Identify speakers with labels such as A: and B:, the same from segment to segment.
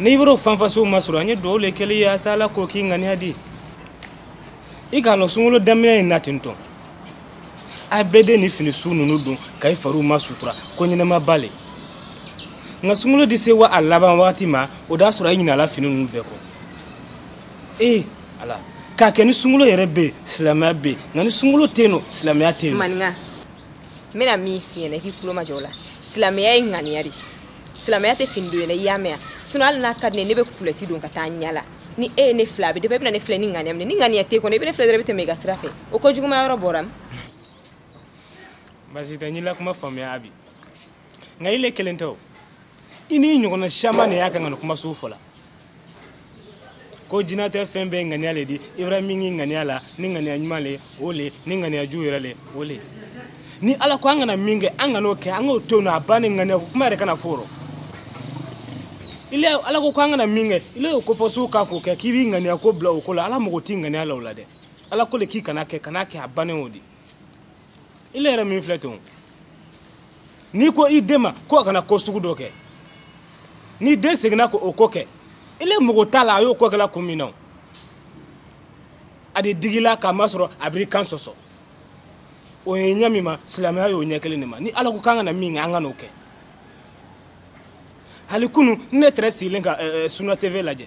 A: n'i b'o fanfasiw ma sɔrɔ an ye dugawu le kɛli ye asa ala k'o k'i ŋaniya di i k'a lɔn sunkalo daminɛ in na ten tɔ a bɛɛ de ni fini su ninnu don ka i fariw masutura ko ɲɛnɛmaba le nka sunkalo di se wa a laban wagati ma o d'a sɔrɔ i ɲinala fini ninnu bɛɛ kɔ ee ala k'a kɛ ni sunkalo yɛrɛ bɛ yen silamɛya bɛ yen nka ni sunkalo tɛ yen nɔ silamɛya tɛ yen maninka
B: n bɛna min f'i ɲɛna i k'i tulo majɔ o la silamɛya ye ŋaniya de ye silamɛya tɛ fini don ye dɛ i y'a mɛn yan sinon hali n'a ka di ne ye ne bɛ kulɛti don ka taa n yaala ni e ye ne filɛ a bɛ dépend i bɛna ne filɛ ni ŋaniya min ye ni ŋaniya t'i kɔnɔ i bɛ ne filɛ dɔrɔn i bɛ tɛmɛ i ka sira fɛ o ko juguma yɔrɔ bɔra min
A: basi tɛ n y'i kuma faamuya abi nka i le kelen tɛ o i n'i ɲɔgɔnna caman de y'a kan ka nin kuma sugu fɔ la ko jinatɛ fɛn bɛɛ ŋaniya le di i bara min k'i ŋaniya la ni ŋaniya ɲuman le o le ni ŋaniya jugu yɛrɛ le o le ni ala ko an kana min kɛ an kan'o kɛ an k'o to yen a bannen ŋaniya ko kuma yɛrɛ kana fɔ o rɔ ile ala ko ko an kana min kɛ ile y'o kofɔ suw ka k'o kɛ k'i b'i ŋaniya ko bila o ko la ala mago t'i ŋaniya la o la dɛ ala ko le k'i kana kɛ kana kɛ a bannen o di i le yɛrɛ min filɛ ten n'i ko i den ma ko a kana ko sugu dɔ kɛ ni den seginna ka o ko kɛ i le mago t'a la a y'o ko kɛla kun min na a di digi i la k'a masɔrɔ a bar'i kan sɔsɔ o ye ɲɛ min ma silamɛya y'o ɲɛ kelen de ma ni ala ko k'an kana min kɛ an kan'o kɛ hali kunu ne tɛrɛ sigilen ka eh, eh, suna tv lajɛ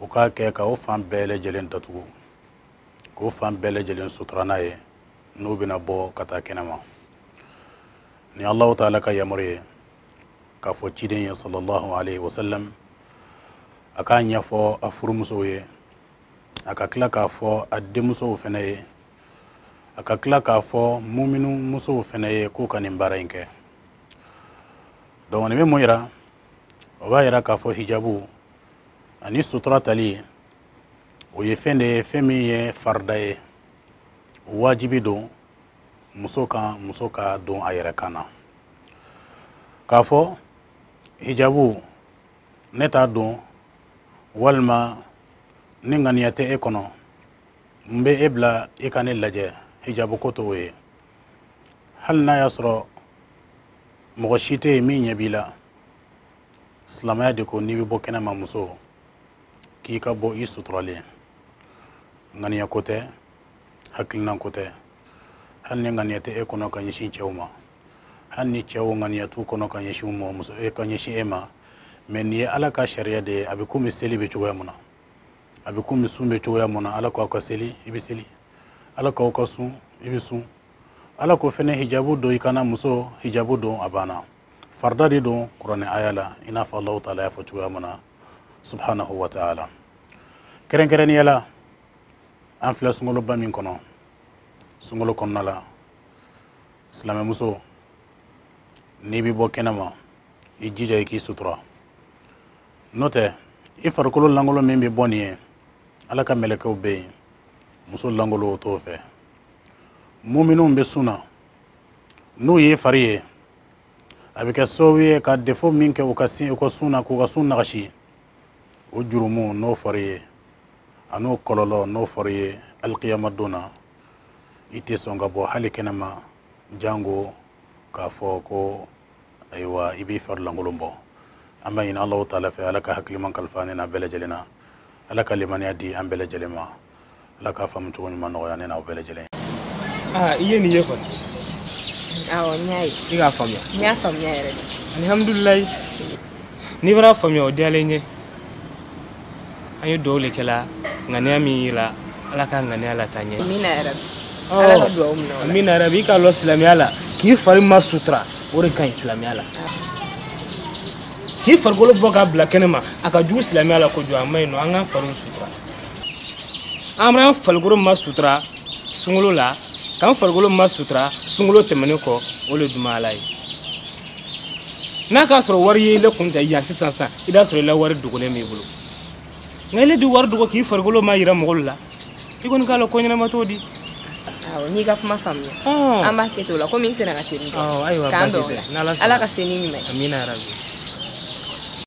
C: o k'a kɛ ka o fan bɛɛ lajɛlen datugu k'o fan bɛɛ lajɛlen sutura n'a ye n'u bɛna bɔ ka taa kɛnɛ ma ni allahu taala ka yamaru ye k'a fɔ ciden ye salallahu alayhi wa sallam a k'a ɲɛfɔ a furumusow ye a ka tila k'a fɔ a denmusow fana ye a ka tila k'a fɔ muminu musow fana ye k'u ka nin baara in kɛ donc nin bɛ mun yira o b'a yira k'a fɔ hijabu ani sutura tali o ye fɛn de ye fɛn min ye farida ye wajibi don muso kan muso k'a don a yɛrɛ kan na k'a fɔ hijabu ne t'a don walima ni ŋaniya tɛ e kɔnɔ n bɛ e bila i ka ne lajɛ hijabu ko t'o ye hali n'a y'a sɔrɔ mɔgɔ si tɛ yen min ɲɛ b'i la silamɛya de ko n'i bɛ bɔ kɛnɛ ma muso k'i ka bɔ i suturalen ŋaniya ko tɛ hakilinan ko tɛ hali ni ŋaniya tɛ e kɔnɔ ka ɲɛsin cɛw ma hali ni cɛw ŋaniya t'u kɔnɔ ka ɲɛsin mɔgɔ muso e ka ɲɛsin e ma mais nin ye ala ka sariya de ye a bɛ komi seli bɛ cogoya mun na a bɛ komi sun bɛ cogoya mun na ala k'aw ka seli i bɛ seli ala k'aw ka sun i bɛ sun ala ko fɛnɛ hijabu don i kan na muso hijabu don a banna farida de don kuranɛ aya la i n'a fɔ allahu taala y'a fɔ cogoya min na subhanahu wa taala kɛrɛnkɛrɛnnenya la an filɛ sunkaloba min kɔnɔ sunkalo kɔnɔna la silamɛmuso n'i bɛ bɔ kɛnɛ ma i jija i k'i sutura n'o tɛ i farikolo lankolon min bɛ bɔ nin ye ala ka mɛlɛkɛw bɛ yen muso lankolon o t'o fɛ muminunw bɛ sun na n'u y'i fari ye a bɛ kɛ sababu ye ka defo min kɛ u ka sin u ka sun na k'u ka sun nagasi o jurumu n'o fari ye an'o kɔlɔlɔ n'o fari ye alikiyama don na i tɛ sɔn ka bɔ hali kɛnɛma jango k'a fɔ ko ayiwa i b'i fari lankolon bɔ an b'a ɲini allahu taala fɛ ala ka hakiliman kalifa ne n'aw bɛɛ lajɛlen na ala ka limaniya di an bɛɛ lajɛlen ma ala k'a faamu cogo ɲuman nɔgɔya ne n'aw bɛɛ lajɛlen aa
A: i ye nin ye kɔni
B: awɔ n y'a ye i k'a faamuya n
A: y'a faamuya yɛrɛ
B: de alihamudulilayi
A: n'i bar'a faamuya o diyalen n ye an ye duwawu le kɛla ŋaniya min y'i la ala ka ŋaniya lataa ɲɛ amina yarabi
B: ala ka duwawu minɛ o la amina yarabi i k'a lɔn
A: silamɛya la k'i fari masutura o de ka ɲi silamɛya la k'i farikolo bɔ k'a bila kɛnɛ ma a ka jugu silamɛya la kojugu a ma ɲi nɔ an k'an fariw sutura an b'an farikolo masutura sunkalo la k'an farikolo masutura sunkalo tɛmɛnen kɔ o le duman ala ye n'a k'a sɔrɔ wari ye i le kun tɛ yan sisan sisan i b'a sɔrɔ i la wari dogolen b'i bolo nka i le di wari dogo k'i farikolo mayira mɔgɔw la i kɔni k'a lɔn ko ɲɛnama t'o di awɔ n
B: y'i ka kuma faamuya an b'a kɛ ten o la komi n sera ka
A: teli
B: k'an dɔn ala ka se ni ɲuman ye